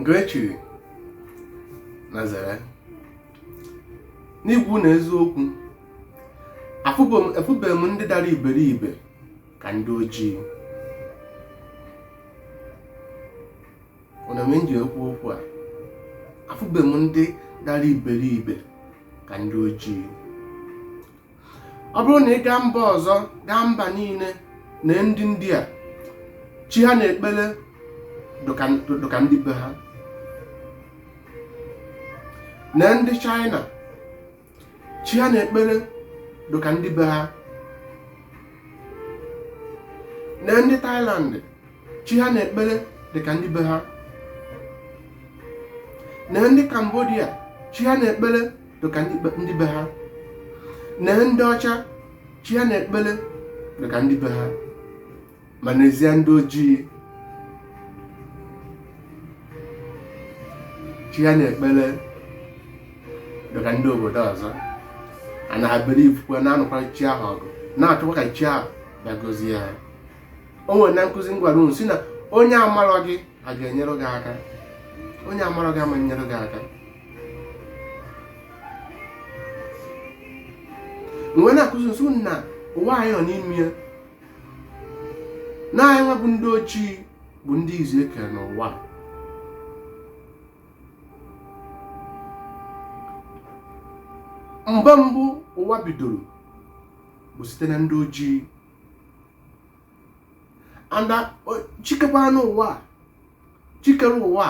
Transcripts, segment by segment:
nke e chiri na zere n'ikwu na eziokwu afụbeghị m ndị dara iberibe ka ndị ojii ọnụ m m ji ekwu okwu a afụbeghị m ndị dara iberibe ka ndị ojii ọ bụrụ na ị gaa mba ọzọ gaa mba niile na ndị India chi ha na-ekpere dụka ndị be ha na ndị China chi ha na-ekpere dụka ndị be ha na ndị Thailand chi ha na-ekpere dịka ndị be ha na ndị Cambodia chi ha na-ekpere dịka ndị be ha na ndị ọcha chi ha na-ekpere dịka ndị be ha ma n'ezie ndị ojii chi ha na-ekpere dịka ndị obodo ọzọ a na-abịrị ifukwe na-anụkwara chi ahụ ọgụ na-achọkwa ka chi ahụ bịa gọzie ha o nwere na nkụzi m gwara unu sị na onye amarọ gị a ga-enyere gị aka onye mara gị ama nyere gị aka m wee na-akụzi sị unu na ụwa anyị nọ n'ime ya na anyị nwa bụ ndị ojii bụ ndị izizi e kere n'ụwa mgbe mbụ ụwa bidoro bụ site na ndị ojii and uh, chi kekwanụ ụwa chi kere ụwa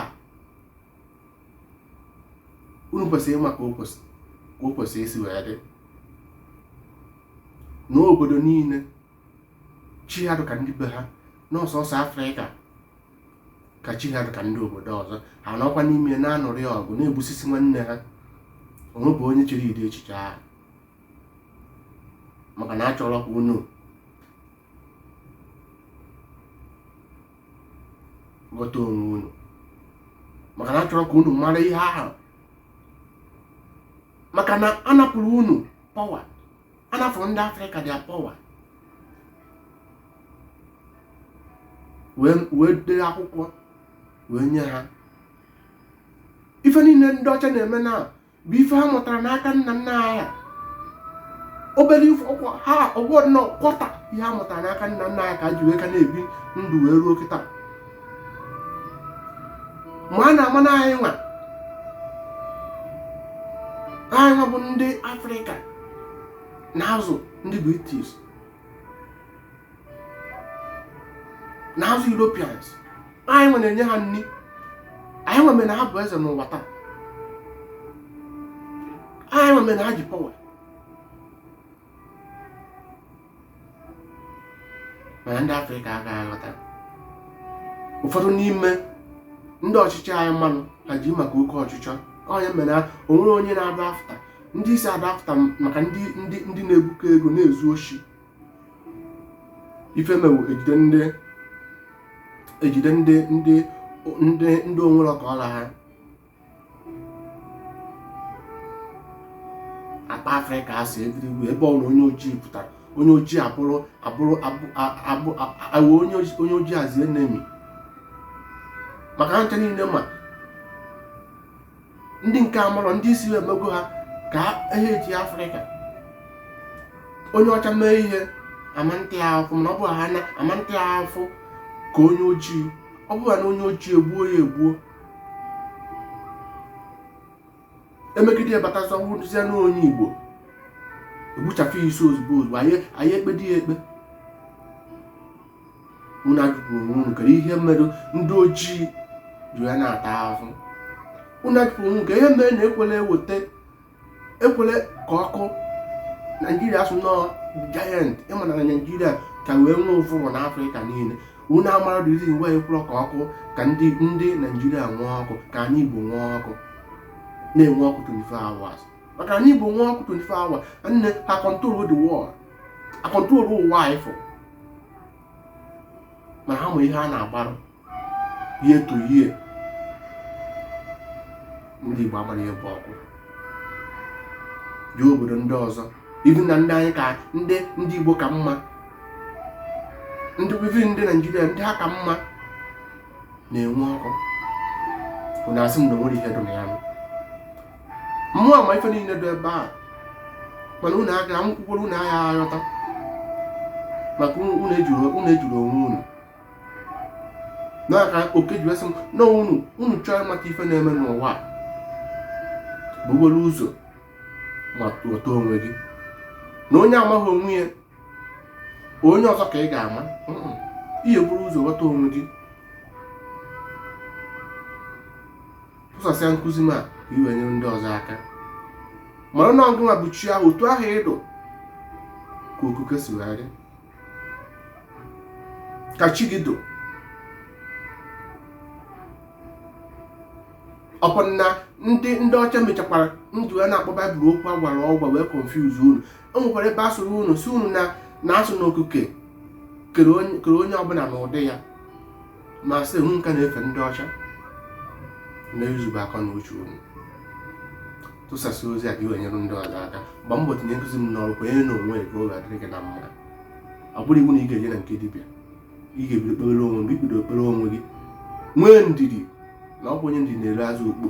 unu kwesịrị ịma ka o kwesịrị isi wee dị n'obodo niile chi ha dịka ndị be ha na ọ sọsọ afrịka ka chi ha dịka ndị obodo ọzọ ha nọkwa n'ime na-anụrụ ya ọgụ na-egbusisi nwanne ha o nwebu onye chere ụdị echiche ahụ maka na achọrọ ka unu ghọta onwe unu maka na achọrọ ka unu mara ihe ahụ maka na a napụrụ unu power a napụrụ ndị afrịka the power wee dee akwụkwọ wee nye ha ife niile ndị ọcha na-eme na bụ ife ha mụtara n'aka nna nna ha obere ife ọkwa ha ọgwọ nnọọ kwọta ihe ha mụtara n'aka nna nna ha ka ha ji wee ka na-ebi ndụ wee ruo kịta ma a na-ama na anyị nwa anyị nwa bụ ndị afrịka na-azụ ndị british na azụ Europeans anyịnwa na-enye ha nri anyịnwa mere na ha bụ eze n'ụwa taa anyịnwa mere na ha ji power mana ndị afrịka agaghị aghọta ụfọdụ n'ime ndị ọchịchị anyị mmanụ ha ji maka oke ọchịchọ onye mere onwe onye na-adị after ndị isi adị after maka ndị na-ebuko ego na-ezu oshi ife mere ejide ndị ejide ndị ndị ndị ndị onwere ọka ọla ha akpa afrịka asị egirigwe ebe ọbụna onye ojii pụtara onye ojii abụrụ abụrụ abụ ewe onye ojii as enemy maka ha ncha niile ma ndị nke amụrụ ndị isi ha emego ha ka ihe eji afrịka onye ọcha mee ihe ama ata ya ahụfụ mana ọ bụ ha na ama ata ya ahụfụ ka onye ojii ọ bụrụ na onye ojii egbuo ya egbuo emegide ya batazi ọ bụrụzie na onye igbo egbuchapụ ya isi ozugbo ozugbo anaghị ekpedị ya ikpe unu ajụgo onwe unu kedu ihe mere ndị ojii ji ya na-ata ahụhụ unu ajụgo onwe ka ihe mere na ekwerọ eweta ekwerọ ka ọkụ naijiria a sị na ọ giant ịma na naijiria ka wee nwee ụbụrụ na afrịka niile unu amara the reason why ekwerọ ka ọkụ ka ndị ndị naijiria nwee ọkụ ka anyị igbo nwee ọkụ na-enwe ọkụ 24 hours maka anyị igbo nwee ọkụ 24 hours anyị a control the world a control ụwa anyị fụ ma ha ma ihe a na-agbarụ ihe to ihe ndị Igbo amarọ ihe bụ ọkụ jee obodo ndị ọzọ even ndị anyị ka ndị ndị Igbo ka mma ndị bibi ndị Naijiria ndị ha ka mma na-enwe ọkụ na asị m na o nwere ihe dị na ya mụwa ma ife niile dị ebe ahụ mana unu aka m kwukwara unu agaghị aghọta maka unu ejirọ onwe unu n'aka oke ji wee sị m na unu unu chọọ ịmata ife na-eme n'ụwa buru ụzọ ma ghọta onwe gị na onye amaghị onwe ya onye ọzọ ka ị ga-ama ihe buru ụzọ ghọta onwe gị tụsasịa nkụzi m a i wee nyere ndị ọzọ aka mara na ọ gụnwa bụ chi ahụ otu ahụ ị dụ ka okuke si wee dị ka chi gị dụ ọkwa na ndị ndị ọcha mechakwara ndụ ya na-akpọ bible okwu a gwara ọgwa wee confuse unu o nwekwara ebe a sụrụ unu sị unu na na a sụ na okuke kere onye kere onye ọbụla n'ụdị ya ma sị unu ka na-efe ndị ọcha na-ezube akọ na uche unu tụsasịa ozi a ka i wee nyere ndị ọzọ aka gba mbọ tinye nkụzi m n'ọrụ kwenyere na onwe ka ọ ga-adịrị gị na mma ọ bụrụ iwu na ị ga-eje na nke dibịa ị ga-ebido kpere onwe gị bido kpere onwe gị nwee ndidi na ọ bụ onye ndidi na-eri azụ ukpo